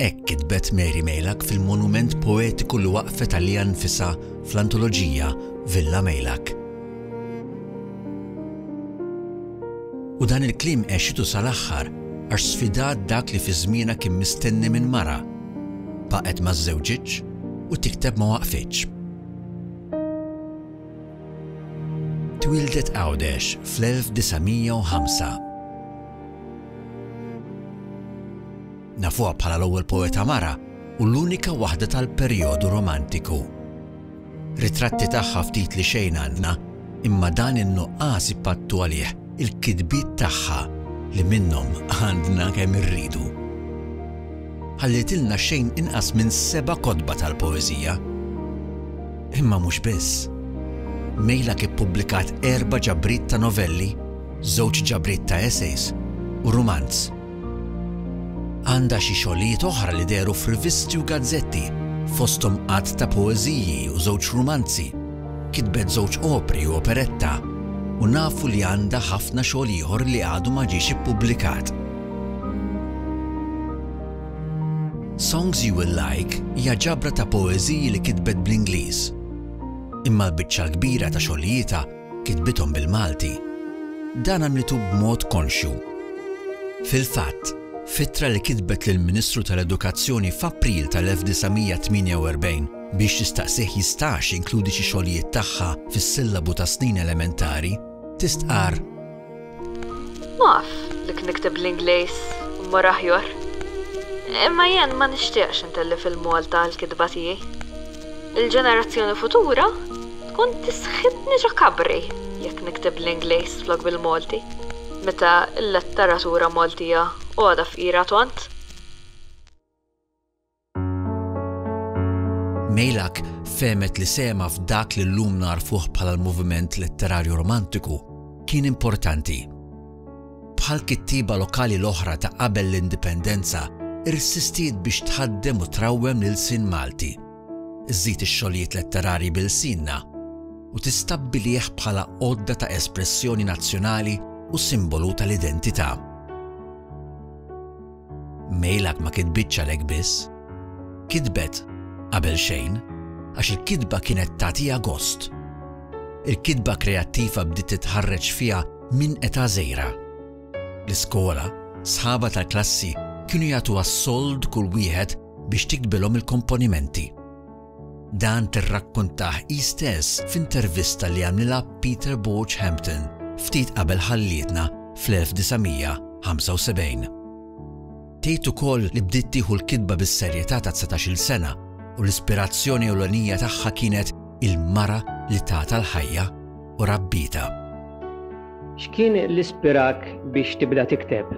Hekk kitbet Mary Meilak fil-monument poetiku li waqqfet għaliha nnfisha fl-antoloġija Villa Meilak. U dan il-kliem għexitu sal-aħħar għax sfidat dak li fi żmienha kien mistenni minn mara, baqgħet ma żżewġitx u tikteb ma waqfitx. Twieldet Għawdex fl-1905. Nafuha bħala l-ewwel poeta mara u l-unika waħda tal-perjodu Romantiku. Ritratti tagħha ftit li xejn għandna, imma dan in-nuqqas ipattu għalih il-kitbiet tagħha li minnhom għandna kemm irridu. Ħallietilna xejn inqas minn seba' kotba tal-poeżija. Imma mhux biss. Meilak ippubblikat erba' ġabriet ta' novelli, żewġ ġabriet ta' essays u rumanz. Għandha xi xogħlijiet oħra li dehru f'rivisti u gazzetti, fosthom għadd ta' poeżiji u żewġ rumanzi. Kitbet żewġ opri u operetta, u nafu li għandha ħafna xogħol ieħor li għadu ma ġiex ippubblikat. Songs You Will Like hija ġabra ta' poeżiji li kitbet bl-Ingliż. Imma l-biċċa l-kbira ta' xogħlijietha kitbithom bil-Malti, dan għamlitu b'mod konxju. Fil-fatt, f'ittra li kitbet lill-Ministru tal-Edukazzjoni f'April tal-1948 biex tistaqsih jistax jinkludi xi xogħlijiet tagħha fis-sillabu tas-snin elementari, tistqarr, Naf li knikteb bl-Ingliż mmur aħjor, imma jien ma nixtieqx intellef il-Malta għall-kitba tiegħi. Il-ġenerazzjoni futura tkun tisħitni ġo kabri jekk nikteb bl-Ingliż flok bil-Malti, meta l-letteratura Maltija għodha fqira tont. Meylak fehmet li sehemha f'dak li llum nagħrfuh bħala l-moviment letterarju romantiku kien importanti. Bħal kittieba lokali l-oħra ta' qabel l-Indipendenza, irsistiet biex tħaddem u trawwem l-ilsien Malti, żżid ix-xogħlijiet letterarji b'ilsienna, u tistabbilih bħala għodda ta' espressjoni nazzjonali u simbolu tal-identità. Mejlak ma kitbitx għalhekk biss. Kitbet, qabel xejn, għax il-kitba kienet tagħtiha gost. Il-kitba kreattiva bdiet titħarreġ fiha minn età żgħira. L-iskola, sħabha tal-klassi kienu jagħtuha s-sold kull wieħed biex tiktbilhom il-komponimenti. Dan tirrakkuntah hi stess f'intervista li għamlilha Peter Borg Hampton ftit qabel ħallietna fl-1975. Tgħid ukoll li bdiet tieħu l-kitba bis-serjetà ta' dsatax-il sena u l-ispirazzjoni ewlenija tagħha kienet il-mara li tatha l-ħajja u rabbietha. X'kien li spirak biex tibda tikteb?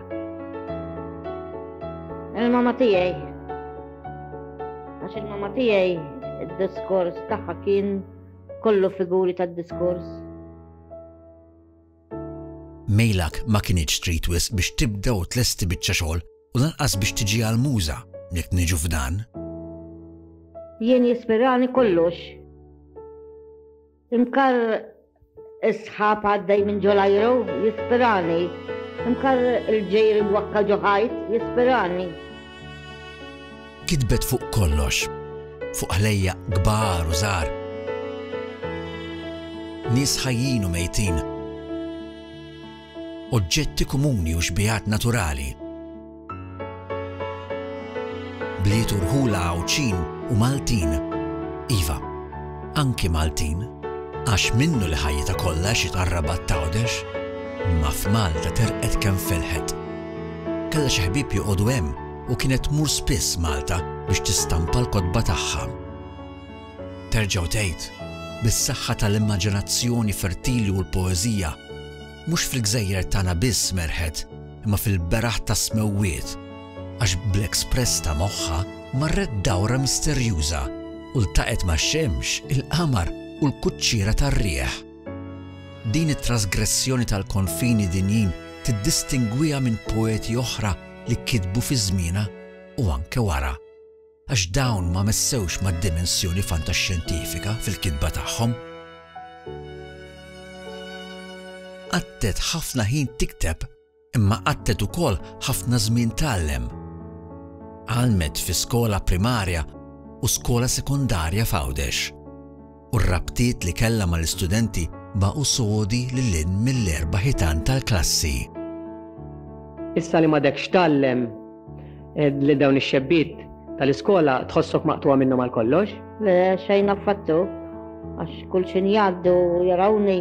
Il-mamma tiegħi. Għax il-mama tiegħi id-diskors tagħha kien kollu figuri tad-diskors. Mejlak ma kienx trid wisq biex tibda u tlesti biċċa xogħol u lanqas biex tiġi għal muża jekk niġu f'dan. Jien jispirani kollox Imkar is-sħab għaddej minn ġolajru jispirani. Imkar il-ġejr il-wakka ġoħajt jispirani. Kitbet fuq kollox, fuq ħlejja kbar u żgħar. Nies ħajjin u mejtin. Oġġetti komuni u xbijat naturali. Bliet u rħula Għawdxin u Maltin. Iva, anki Maltin, għax minnu li ħajjitha kollha xi tarrabat t'Għawdex, imma f'Malta terqet kemm felħet. Kellha xi ħbieb joqogħdu hemm u kienet tmur spiss Malta biex tistampa l-kotba tagħha. Terġgħu tgħid, bis-saħħa tal-immaġinazzjoni fertili u l-poeżija, Mhux fil-gżejjer tagħna biss merħet imma fil-beraħ tas-smewwiet, għax bl-express ta' moħħha marret dawra misterjuża u ltaqgħet max-xemx, il-qamar u l-kuċċiera tar-riħ. Din it-trasgressjoni tal-konfini dinjin tiddistingwiha minn poeti oħra li kitbu fi żmienha u anke wara. għax dawn ma messewx mad-dimensjoni fantaxxjentifika fil-kitba tagħhom. Qattet ħafna ħin tikteb imma qattet ukoll ħafna żmien tgħallem. Għallmet fi skola primarja u skola sekondarja f'Għawdex. u r-rabtiet li kellha mal-istudenti baqgħu sodi lil hinn mill-erba' ħitan tal-klassi. Issa li m'għadekx tgħallem lil dawn ix-xebbiet tal-iskola tħossok maqtugħa minnhom għal kollox? Le, xejn affattu, għax kull x'injgħaddu jarawni.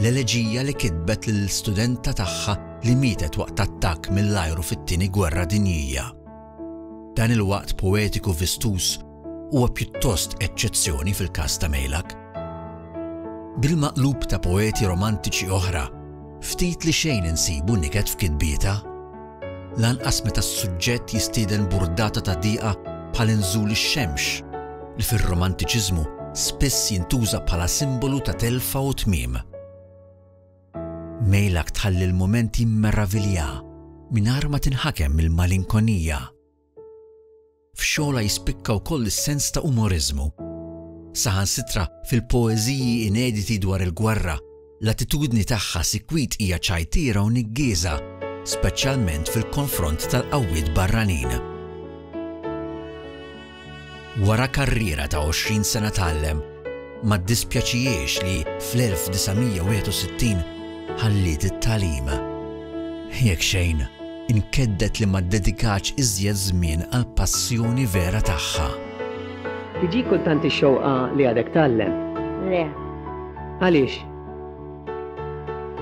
L-eleġija li kitbet lill-studenta tagħha li mietet waqt attakk mill-ajru fit-Tieni Gwerra Dinjija. Dan il-waqt poetiku vistuż huwa pjuttost eċċezzjoni fil-każ ta' Meylak. Bil-maqlub ta' poeti romantiċi oħra, ftit li xejn insibu niket f'kitbietha. lanqas meta s-suġġett jistieden burdata ta' diqa bħal inżul ix-xemx, li fir-Romantiċiżmu spiss jintuża bħala simbolu ta' telfa u tmiem. Meylak tħalli l-mument jimmeravilja mingħajr ma tinħakem mill-malinkonija. F'xogħolha jispikka wkoll is-sens ta' umoriżmu. Saħansitra fil-poeżiji inediti dwar il-gwerra, l-attitudni tagħha sikwit hija ċajtiera u niggieża, speċjalment fil-konfront tal-qawwiet barranin. Wara karriera ta' 20 sena tgħallem, ma ddispjaċihiex li fl-1961 ħalliet it-tagħlim. Jekk xejn, inkedded li ma ddedikatx iżjed żmien għall-passjoni vera tagħha. Tiġik kultant ix-xewqa li għadek tgħallem? Le. Għaliex?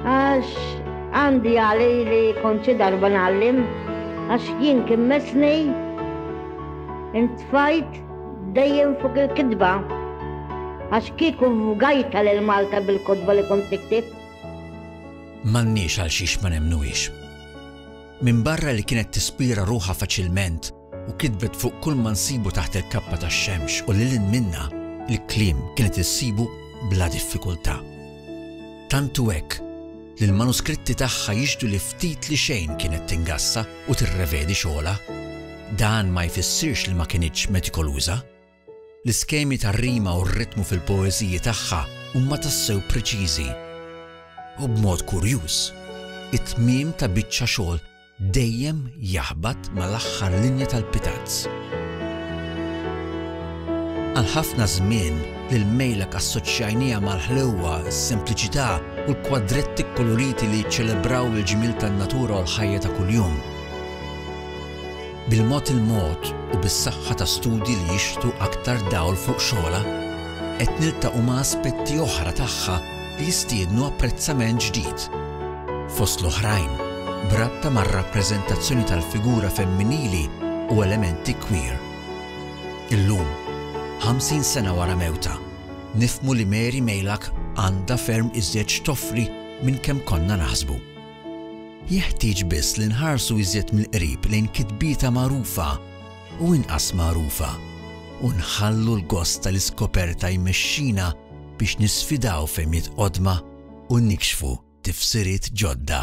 Għax għandi għali li kont xi darba nagħallim, għax jien kien mesni intfajt dejjem fuq il-kitba. Għax kieku vgajta lil Malta bil-kotba li kont niktib. M'għandniex għal xiex ma nemnuhiex. Minbarra li kienet tispira ruħha faċilment u kitbet fuq kull ma nsibu taħt il-kappa tax-xemx u lil hinn minnha, il-kliem kienet issibu bla diffikultà. Tant hu hekk li l-manuskritti tagħha jixhdu li ftit li xejn kienet tingassa u tirrevedi xogħolha. Dan ma jfissirx li ma kinitx metikoluża. L-iskemi tar-rima u r-ritmu fil-poeżiji tagħha huma tassew preċiżi u b'mod kurjuż, it-tmiem ta' biċċa xogħol dejjem jaħbat mal-aħħar linja tal-pitazz. Għal ħafna żmien, lil Meylak assoċjajniha mal-ħlewwa, is-sempliċità u l-kwadretti kkoloriti li jiċċelebraw il-ġmiel tan-natura u l-ħajja ta' kuljum. Bil-mod il-mod u bis-saħħa ta' studji li jixħtu aktar dawl fuq xogħolha, qed niltaqgħu ma' aspetti oħra tagħha li jistiednu apprezzament ġdid. Fost l-oħrajn, b'rabta mar-rappreżentazzjoni tal-figura femminili u elementi queer. Illum, 50 sena wara mewtha, nifhmu li Mary Meylak għandha ferm iżjed x'toffri minn kemm konna naħsbu. Jeħtieġ biss li nħarsu iżjed mill-qrib lejn kitbietha magħrufa u inqas magħrufa, u nħallu l-gost tal-iskoperta jmexxina biex nisfidaw fehmiet qodma u nikxfu tifsiriet ġodda.